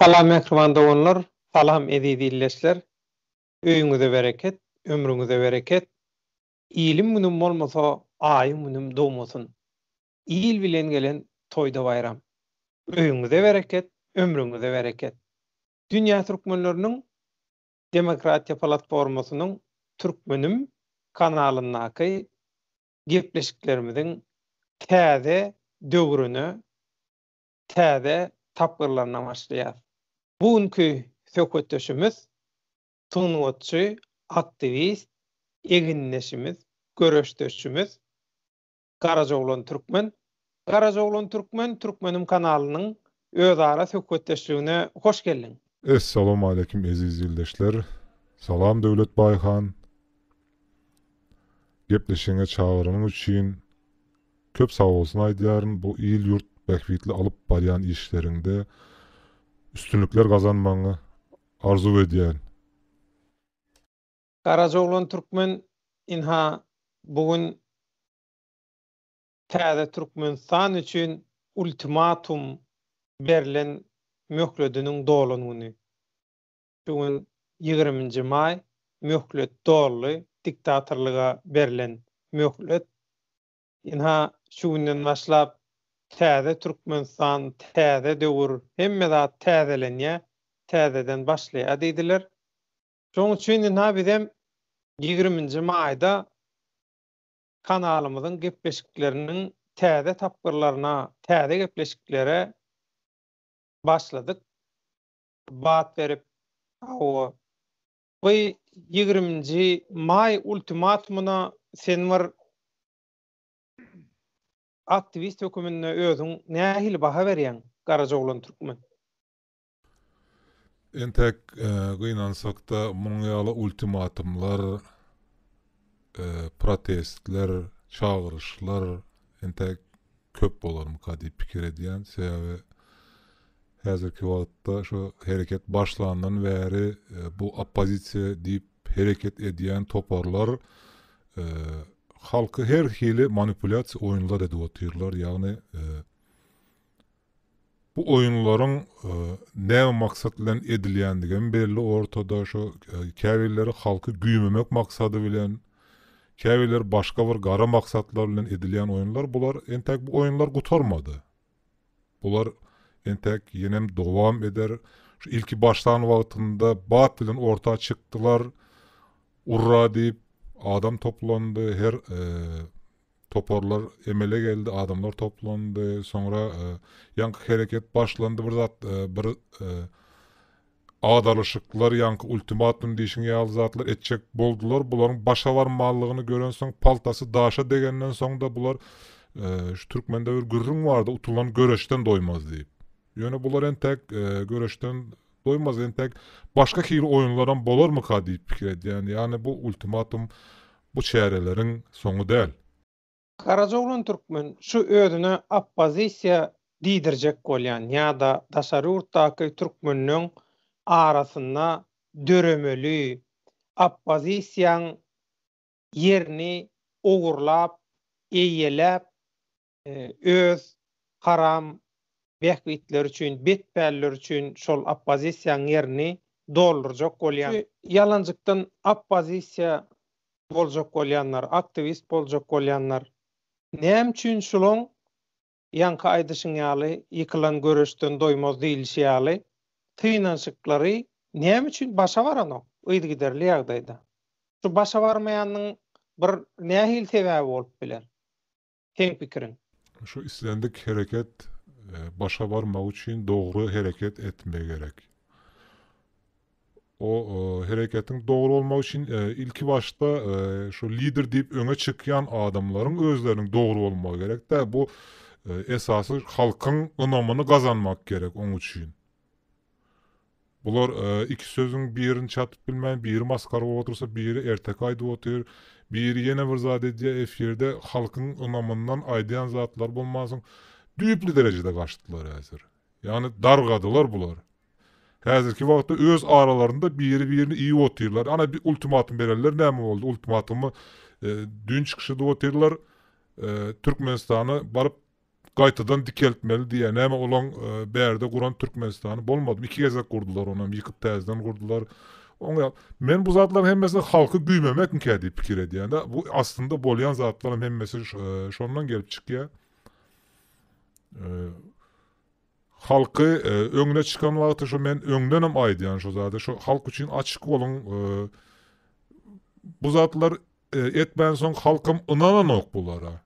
Salam mähriban doganlar, salam eziz illeşler, öýüňize bereket, ömrüňize bereket, iliň günüm bolmasa aýyň günüm dogmasyn, il bilen gelen toýda baýram, öýüňize bereket, ömrüňize bereket, dünýä türkmenleriniň demokratiýa platformasynyň Türkmenim kanalyndaky gepleşiklerimiziň täze döwrüne täze tapgyrlaryna başlaýas. Bu günki söhbetdeşimiz sungatçy, aktiwist, egindeşimiz, göreşdeşimiz Garajoglan Türkmen. Garajoglan Türkmen Türkmenim kanalynyň özara söhbetdeşligine hoş geldiň. Essalamu aleýkum eziz ildeşler. Salam Döwlet Baýhan. Gepleşigiňe çagyranyň üçin köp sagbolsun aýdýaryn. Bu il ýurt bähbitli alyp barýan işleriňde üstünlikler gazanmagyňy arzuw edýän. Garaja oglan türkmen ynha bu gün. täze Türkmenistan üçin ultimatum berlen möhlediniň dolan güni. Şu gün ýigriminji maý, möhlet doldy, diktatorlyga berlen möhlet. Ynha, şu günden başlap täze Türkmenistan, täze döwür, hemme zat täzelenýär, täzeden başlaýar diýdiler. Şonuň üçin ynha bizem ýigriminji maýda kanalymyzyň gepleşikleriniň täze tapgyrlaryna, täze gepleşiklere başladyk. Bat berip, hawa, bu ýigriminji maý ultimatumyna sen bir aktiwist höküminde özüň nähili baha berýäň, Garajaoglan Türkmen? Entek gynansak-da, munuň ýaly ultimatumlar, protestler, çagyryşlar entek köp bolarmyka diýip pikir edýän. Sebäbi häzirki wagtda şu hereket başlandan bäri bu oppozisiýa diýip hereket edýän toparlar halky her hili manipulýasiýa oýunlar edip otyrlar. Ýagny Bu oýunlaryň näme maksat bilen edilýändigem belli ortada, şo käbirleri halky güýmemek maksady bilen, käbirleri başga bir gara maksatlar bilen edilýän oýunlar, bular entäk bu oýunlar gutarmady. Bular entäk ýenem dowam eder. Şu ilki başlan wagtynda bat bilen orta çykdylar. Urra diýip adam toplandy, her Toparlar emele geldi, adamlar toplandy. Soňra ýaňky hereket başlandy. Bir zat, bir agdarlyşyklar, ýaňky ultimatum diýşiň ýaly zatlar etjek boldular. Bularyň başa barmanlygyny görensoň, paltasy daşa degenden soň-da bular şu türkmende bir gürrüň bardy, utulan göreşden doýmaz diýip. Ýöne bular entek göreşden doýmaz, entek başga hili oýunlaram bolarmyka diýip pikir edýän. Ýagny bu ultimatum bu çäreleriň soňy däl. Garajaoglan türkmen şu özüne oppozisiýa diýdirjek bolýan ýa-da daşary ýurtdaky türkmenleň arasynda döremeli oppozisiýaň ýerini ogurlap, eýeläp, öz haram bähbitleri üçin, betpälleri üçin şol oppozisiýanyň ýerini doldurjak bolýan, ýalanjykdan oppozisiýa boljak bolýanlar, aktiwist boljak bolýanlar näme üçin şulaň ýaňky aýdyşyň ýaly ýykylan göreşden doýmaz diýilişi ýaly synanyşyklary näme üçin başa baranok yzygiderli ýagdaýda? Şu başa barmaýanyň bir nähili sebäbi bolup biler? seň pikiriň? Şu islendik hereket başa barmak üçin dogry hereket etme gerek. O hereketiň dogry bolmagy üçin ilki başda şu lider diýip öňe çykýan adamlaryň özleriniň dogry bolmagy gerek-dä. Bu esasy halkyň ynamyny gazanmak gerek oň üçin. Bular iki sözüň birini çatyp bilmän biri masgara bolup otursa biri erteki aýdyp otyr biri ýene bir zat edýär efirde halkyň ynamyndan aýdýan zatlary bolmansoň düýpli derejede gaçdylar häzir ýagny dargadylar bular häzirki wagtda öz aralarynda biri birini iýip otyrlar ana bir ultimatum bererler näme boldy ultimatumy düýn çykyş edip otyrlar Türkmenistana baryp Gaýtadan dikeltmeli diýýär. Näme olaň bärde guran Türkmenistany bolmadymy? Iki gezek gurdular, onam ýykyp täzeden gurdular. Oňa men bu zatlaryň hemmesini halky güýmemekinkä diýip pikir edýän-de. Bu aslynda bolýan zatlaryň hemmesi şondan gelip çykýar. Halky öňüne çykan wagty şu men öňdenem aýdýan şu zady, şu halk üçin açyk boluň. Bu zatlar etmänsoň halkam ynananok bulara.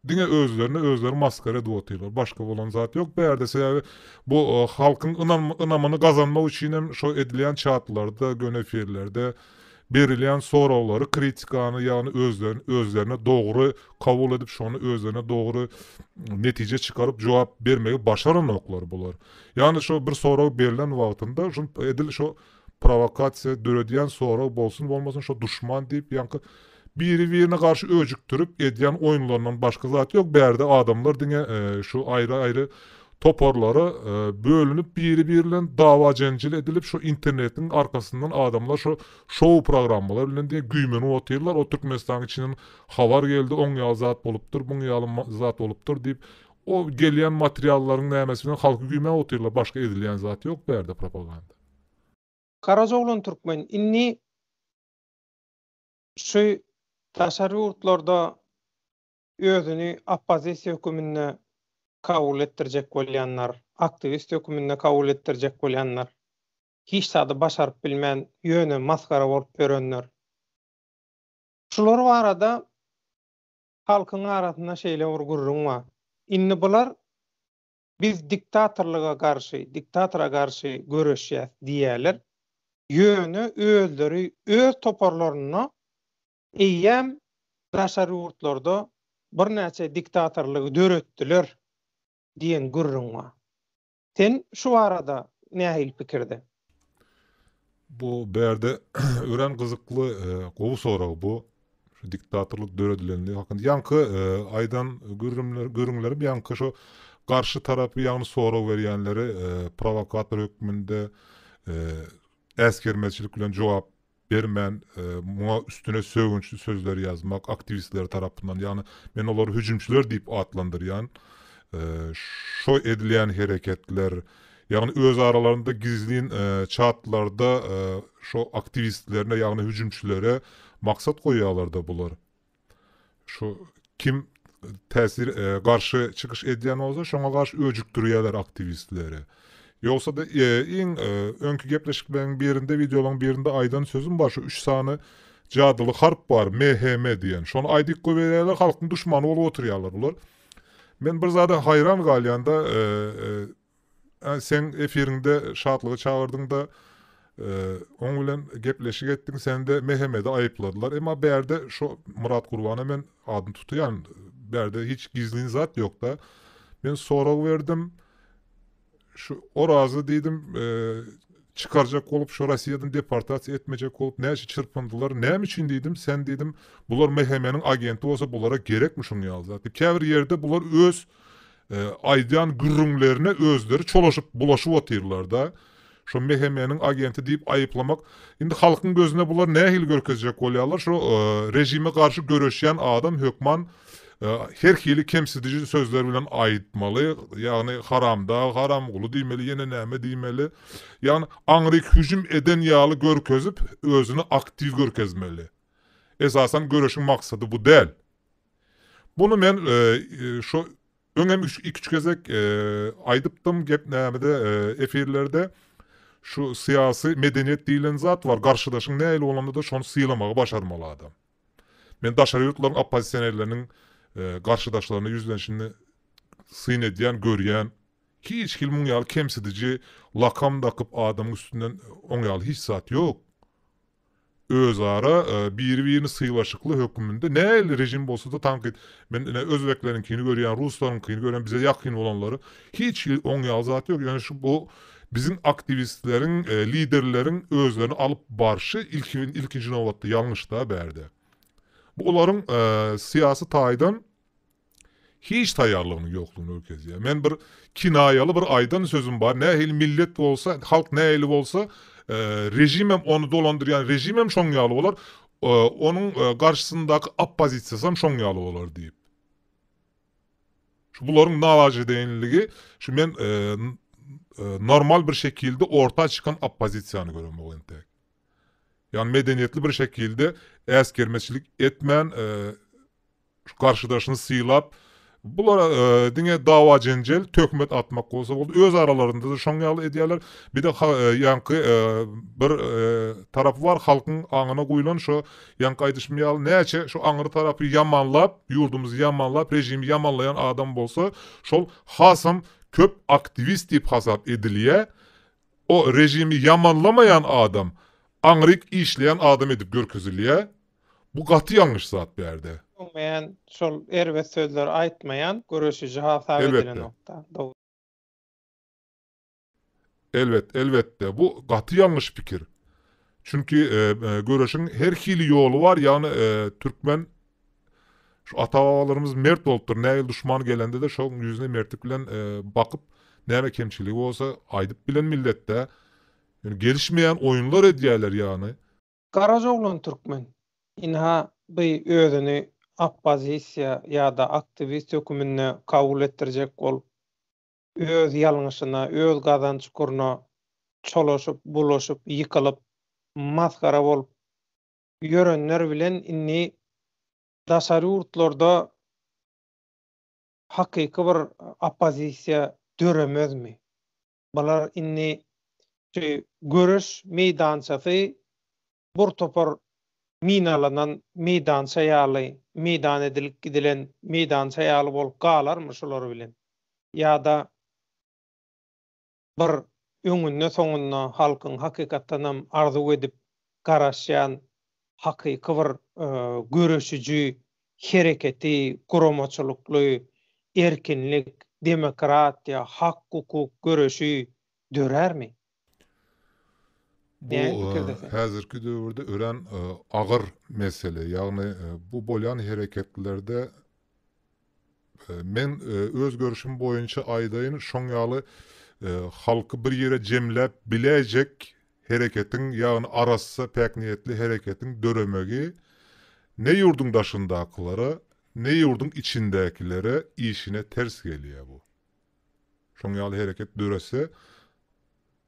Diňe özlerini özleri maskara edip otyrlar. Başga bolan zat ýok bu ýerde. Sebäbi bu halkyň ynamyny gazanmak üçin hem şo edilýän çatlarda, göni efirlerde berilýän soraglary, kritikany ýagny özlerini özlerine dogry kabul edip şony özlerine dogry netije çykaryp jogap bermegi başaranoklar bular. Ýagny şo bir sorag berlen wagtynda şo edil şo Prowokasiýa döredýän sorag bolsun bolmasyn şo duşman diýip ýaňky biri birine garşy öjükdirip edýän oýunlaryndan başga zat ýok bärde adamlar diňe şu aýry aýry toparlara bölünip biri biri bilen dawa jenjil edilip şo internetiň arkasyndan adamlar şo şou programmalar bilen diňe güýmenip otyrlar o türkmenistanyň içinden habar geldi oň ýaly zat bolupdyr buň ýaly zat bolupdyr diýip o gelýän materiallaryň nämesi bilen halky güýmäp otyrlar başga edilýän zat ýok bärde propaganda. Garajoglan Türkmen indi şu daşary ýurtlarda özüni oppozisiýa höküminde kabul etdirjek bolýanlar, aktiwist höküminde kabul etdirjek bolýanlar, hiç zady başaryp bilmän ýöne masgara bolup ýörenler. Şular barada halkyň arasynda şeýle bir gürrüň bar. Indi bular Biz diktatorlyga garşy, diktatora garşy göreşýäs diýýärler, ýöne özleri öz toparlarynda eýýäm daşary ýurtlarda birnäçe diktatorlygy döretdiler diýen gürrüň bar. Sen şu barada nähili pikirde? Bu bärde örän gyzykly, e, gowy sorag bu. Şu diktatorlyk döredilendigi hakynda. Ýaňky e, aýdan gürrümler, gürrüňlerim ýaňky şu garşy tarapy ýagny sorag berýänleri e, prowokator hökmünde e, äsgermezçilik bilen jogap bermän, muňa üstüne sögünçli sözler ýazmak, aktiwistler tarapyndan, ýagny men olary hüjümçiler diýip atlandyrýan, şo edilýän hereketler, ýagny öz aralarynda gizlin çatlarda şo aktiwistlerine, ýagny hüjümçilere maksat goýýarlar-da bular. Şu kim täsir garşy çykyş edýän bolsa şoňa garşy öjükdirýärler aktiwistleri. Ýogsa-da iň öňki gepleşikleriň birinde, wideolaryň birinde aýdan sözüm bar, şu üç sany jadyly harp bar, MHM diýen. Şony aýdyp goýberýärler, halkyň duşmany bolup oturýarlar bular. Men bir zada haýran galýan-da, Seň efiriňde Şatlygy çagyrdyňda oň bilen gepleşik etdiň sende Mehemedi aýypladylar emma bärde şo Myrat Gurbana men adyny tutýan bärde hiç gizlin zat ýokda men sorag berdim şu Orazy diýdim çykarjak bolup şo Rossiýadan deportasiýa etmejek bolup näçe çyrpyndylar näme üçin diýdim sen diýdim bular Mehemeniň agenti bolsa bulara gerekmi şuň ýaly zat diýip käbir ýerde bular öz Aýdýan gürrüňlerine özleri çolaşyp, bulaşyp otyrlar-da. Şo MHM-niň agenti diýip aýyplamak. Indi halkyň gözüne bulary nähili görkezjek bolýarlar? Şo režime garşy göreşýän adam hökman her hili kemsidiji sözler bilen aýytmaly, ýagny haramdag, haramguly diýmeli, ýene näme diýmeli. Ýagny aňryk hüjüm eden ýaly görkezip, özüni aktiw görkezmeli. Esasan göreşiň maksady bu däl. Bunu men şu öňem iki-üç gezek aýdypdym gep nämede efirlerde şu syýasy medeniýet diýilen zat bar garşydaşyň nähili bolanda-da şony sylamagy başarmaly adam. Men daşary ýurtlaryň oppozisionerleriniň garşydaşlaryna ýüzlenişini syn edýän görýän hiç hili muň ýaly kemsidiji lakam dakyp adamyň üstünden oň ýaly hiç zat ýok. özara biri-birini sylaşykly höküminde nähili režim bolsada tankyt men ine özbekleriňkini görýän ruslaryňkyny görýän bize ýakyn bolanlary hiç hili oňýaly zat ýok ýöne şu bu biziň aktiwistleriň liderleriň özlerini alyp barşy ilkinji nobatda ýalňyşda bärde bu olaryň syýasy taýdan Hiç taýýarlygynyň ýoklugyny görkezýär. Men bir kinaýaly bir aýdan sözüm bar, nähili millet bolsa, halk nähili bolsa, režimem ony dolandyrýan režimem şoň ýaly bolar, onuň garşysyndaky oppozisiýasam şoň ýaly bolar diýip. Şu bularyň nawajedeýinligi, şu men normal bir şekilde orta çykan oppozisiýany göremok entek. Ýagny medeniýetli bir şekilde äsgermeçilik etmän, Şu garşydaşyny sylap, bular diňe dawa-jenjel, töhmet atmak bolsa boldy. Öz aralarynda-da şoň ýaly edýärler. Bir-de ýaňky bir tarapy bar, halkyň aňyna guýlan şo ýaňky aýdyşym ýaly näçe şu aňry tarapy ýamanlap, ýurdumyzy ýamanlap, režimi ýamanlaýan adam bolsa, şol hasam köp aktiwist diýip hasap edilýär. O režimi ýamanlamaýan adam, aňryk işleýän adam edip görkezilýär. Bu gaty ýalňyş zat bärde. Öňmeýän şol erbet sözleri aýtmaýan göreşiji hasap edilenokda. Elbet, elbetde, bu gaty ýalňyş pikir. Çünki göreşiň her hili ýoly bar, ýagny türkmen şu ata-babalarymyz mert bolupdyr, nähili duşman gelende-de şoň ýüzüne mertlik bilen bakyp, näme kemçiligi bolsa aýdyp bilen milletde. Ýöne gelişmeýän oýunlar edýäler ýagny. Garaz oglan türkmen, ynha by özüni oppozisiýa ýa-da aktiwist höküminde kabul etdirjek bolup, öz ýalňyşyna, öz gazan çukuryna çolaşyp, bulaşyp, ýykylyp, masgara bolup ýörenler bilen indi daşary ýurtlarda hakyky bir oppozisiýa döremezmi? Bular indi şu göreş meýdançasy bir topar minalanan meýdança ýaly, meýdan edilip gidilen meýdança ýaly bolup galarmy şular bilen? Ýa-da bir öňünde-soňunda halkyň hakykatdanam arzuw edip garaşýan hakyky bir göreşiji hereketi, guramaçylykly, erkinlik, demokratiýa, hak-hukuk göreşi dörärmi? Bu häzirki döwürde örän agyr mesele. Ýagny bu bolýan hereketlerde Men öz görüşim boýunça aýdaýyn, şoň ýaly halky bir ýere jemläp biläýjek hereketiň, ýagny arassa, päkniýetli hereketiň döremegi ne ýurduň daşyndakylara, ne ýurduň içindäkilere işine ters gelýär bu. Şoň ýaly hereket dörese,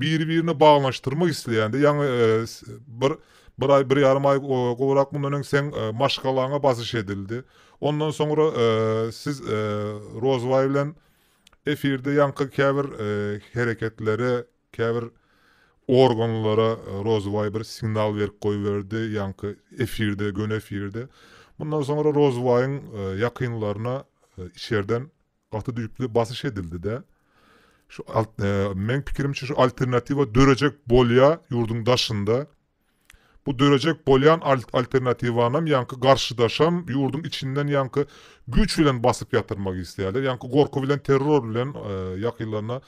Biri-birine baglanyşdyrmak isleýände, ýaňy bir bir aý, bir ýarym aý gowrak mundan öň seň maşgalaňa basyş edildi. Ondan soňra siz Rozbaý bilen efirde ýaňky käbir hereketlere, käbir organlara Rozbaý bir signal berip goýberdi, ýaňky efirde, göni efirde. Mundan soňra Rozbaýyň ýakynlaryna içerden Gaty düýpli basyş edildide. Şu meň pikirimçe şu alternatiwa dörejek bolýa ýurduň daşynda. Bu dörejek bolýan alternatiwanam ýaňky garşydaşam ýurduň içinden ýaňky güýç bilen basyp ýatyrmak isleýärler. Ýaňky gorky bilen terror bilen ýakylaryna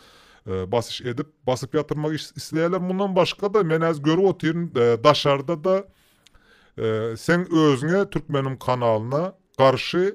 basyş edip basyp ýatyrmak isleýärler. Mundan başga-da men häzir görüp otyryn daşarda-da sen özüňe türkmeniň kanalyna garşy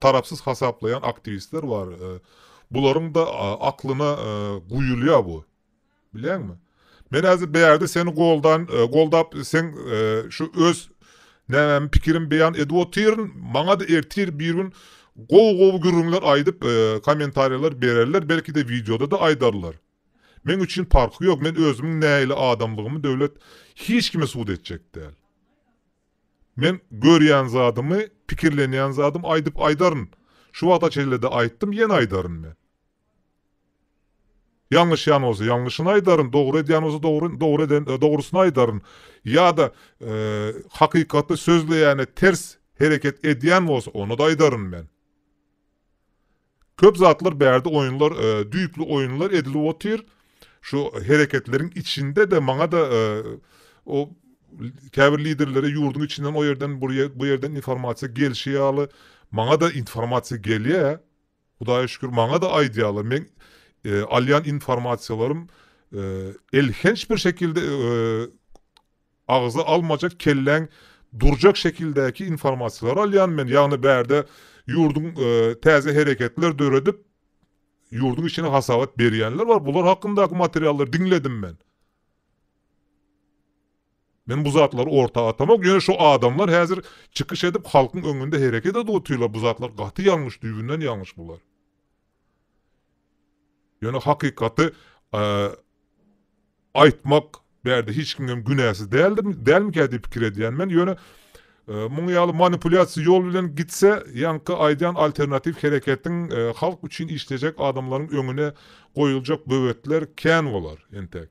Tarapsyz hasaplaýan aktiwistler bar. Bularyň-da aklyna guýulýar bu. Bilýäňmi? Men häzir bärde seni goldan, goldap seň şu öz nämämi pikirim beýan edip otyryn. Maňa-da ertir bir gün gowy-gowy gürrüňler aýdyp, kommentariýalar bererler, belki-de wideoda-da aýdarlar. Meň üçin parky ýok, men özümiň nähili adamlygymy döwlet hiç kime subut etjek däl. Men görýän zadymy, pikirlenýän zadymy aýdyp aýdaryn. Şu wagta çenlede aýtdym, ýene aýdaryn men. Ýalňyşýan bolsa ýalňyşyny aýdaryn, dogry edýän bolsa dogry, dogry eden, dogrusyny aýdaryn. Ýa-da hakykaty sözleýäne ters hereket edýän bolsa, ony-da aýdaryn men. Köp zatlar bärde oýunlar düýpli oýunlar edilip otyr şu hereketleriň içinde de maňada o käbir liderlere ýurduň içinden o ýerden bu ýerden informasiýa gelşi ýaly maňada informasiýa gelýä hudaýa şükür maňada aýdýalar meň alýan informasiýalarym elhenç bir şekilde Agza almajak kelläň durjak şekildäki informasiýalary alýan men ýagny bärde ýurduň täze hereketler döredip ýurduň içine hasabat berýänler bar bular hakyndaky materiallary diňledim men. Men bu zatlary orta atamok ýöne şu adamlar häzir çykyş edip halkyň öňünde hereket edip otyrlar bu zatlar gaty ýalňyş düýbünden ýalňyş bular. Ýöne hakykaty aýtmak bärde hiç kimden günäsiz däldir, dälmikä diýip pikir edýän men. Ýöne muň ýaly manipulýasiýa ýol bilen gitse, ýaňky aýdýan alternatiw hereketiň halk üçin işlejek adamlaryň öňüne goýuljak böwetler kän bolar entek.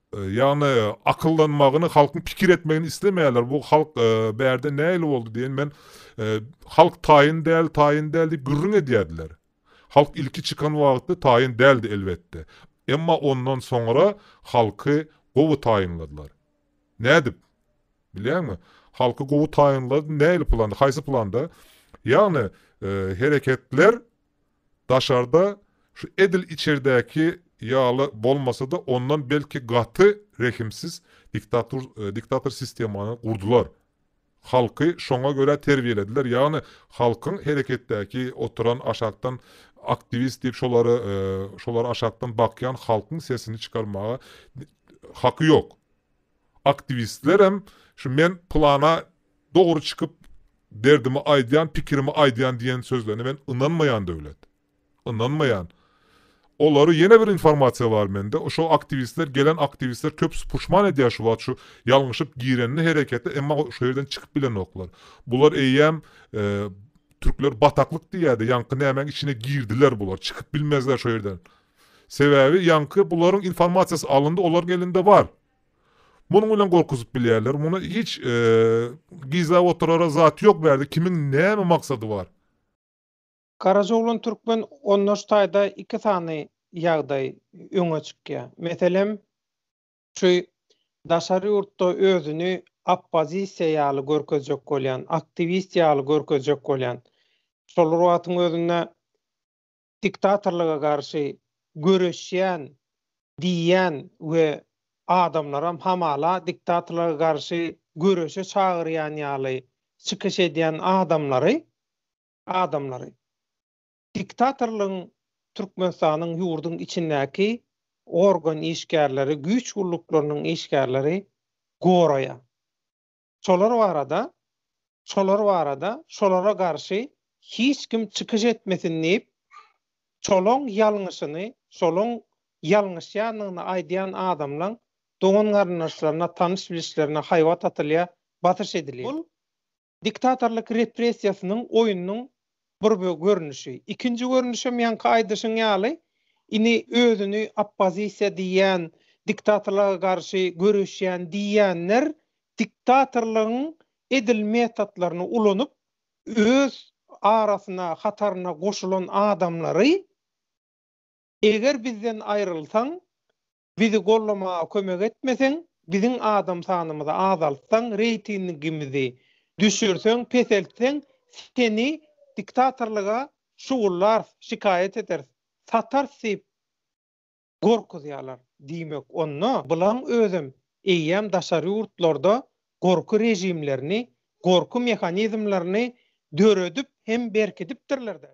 Ýagny akyllanmagyny halkyň pikir etmegini islemeýärler bu halk bärde nähili boldy diýen men halk taýyn däl taýyn däl diýip gürrüň edýärdiler. Halk ilki çykan wagtda taýyn däldi elbetde. Emma ondan soňra halky gowy taýynladylar. Nädip? Bilýäňmi? Halky gowy taýynlady nähili planda haýsy planda? Ýagny hereketler Daşarda şu edil içerdäki ýaly bolmasa-da ondan belki gaty rehimsiz diktatur diktator sistemany gurdular. Halky şoňa görä terbiýelediler, ýagny halkyň hereketdäki oturan aşakdan aktiwist diýip şolary şolary aşakdan bakýan halkyň sesini çykarmaga haky ýok. Aktiwistlerem şu men pylana Dogry çykyp, derdimi aýdýan, pikirimi aýdýan diýen sözlerine men ynanmaýan Döwlet. Ynanmaýan. Olary ýene bir informasiýa bar mende, şo aktiwistler, gelen aktiwistler köpüsi puşman edýär şu wagt şu ýalňyşyp girenini herekete, emma şo ýerden çykyp bilenoklar. Bular eýýäm Türkler bataklyk diýýärdi, ýaňky nämäň içine girdiler bular, çykyp bilmezler şo ýerden. Sebäbi ýaňky bularyň informasiýasy alyndy, olaryň elinde bar. Munuň bilen gorkuzyp bilýärler. Muny hiç gizläp oturara zat ýok bärde kimiň näme maksady bar. Garajoglan Türkmen ondaş taýda iki sany ýagdaý öňe çykýa. Meselem şu daşary ýurtda özüni oppozisiýa ýaly görkezjek bolýan, aktiwist ýaly görkezjek bolýan. Şol wagtyň özünde diktatorlyga garşy göreşýän diýýän we adamlaram hamala diktatorlyga garşy göreşe çagyrýan ýaly çykyş edýän adamlary adamlary diktatorlygyň Türkmenistanyň ýurduň içindäki organ işgärleri güýç gulluklarynyň işgärleri goraýar. Şolar barada, şolar barada, şolara garşy hiç kim çykyş etmesin diýip, şolaň ýalňyşyny, şolaň ýalňyşýandygyny aýdýan adamlaň dogan-garyndaşlaryna, tanyş-bilişlerine haýbat atylýar, basyş edilýär. Bul diktatorlyk repressiýasynyň oýnunyň bir görnüşi. Ikinji görnüşem ýaňky aýdyşyň ýaly, indi özüni oppozisiýa diýýän, diktatorlyga garşy göreşýän diýýänler diktatorlygyň edil metotlaryny ulanyp, öz arasyna, hataryna goşulan adamlary eger bizden aýrylsaň, Bizi gollamaga kömek etmeseň, biziň adam sanymyzy azaltsaň, reýtingimizi düşürseň, peseltseň, seni diktatorlyga şugullarys, şikaýat ederis, satarys diýip gorkuzýarlar. Diýmek, onda bulaň özem eýýäm daşary ýurtlarda gorky režimlerini, gorky mehanizmlerini döredip hem berkidipdirler-dä.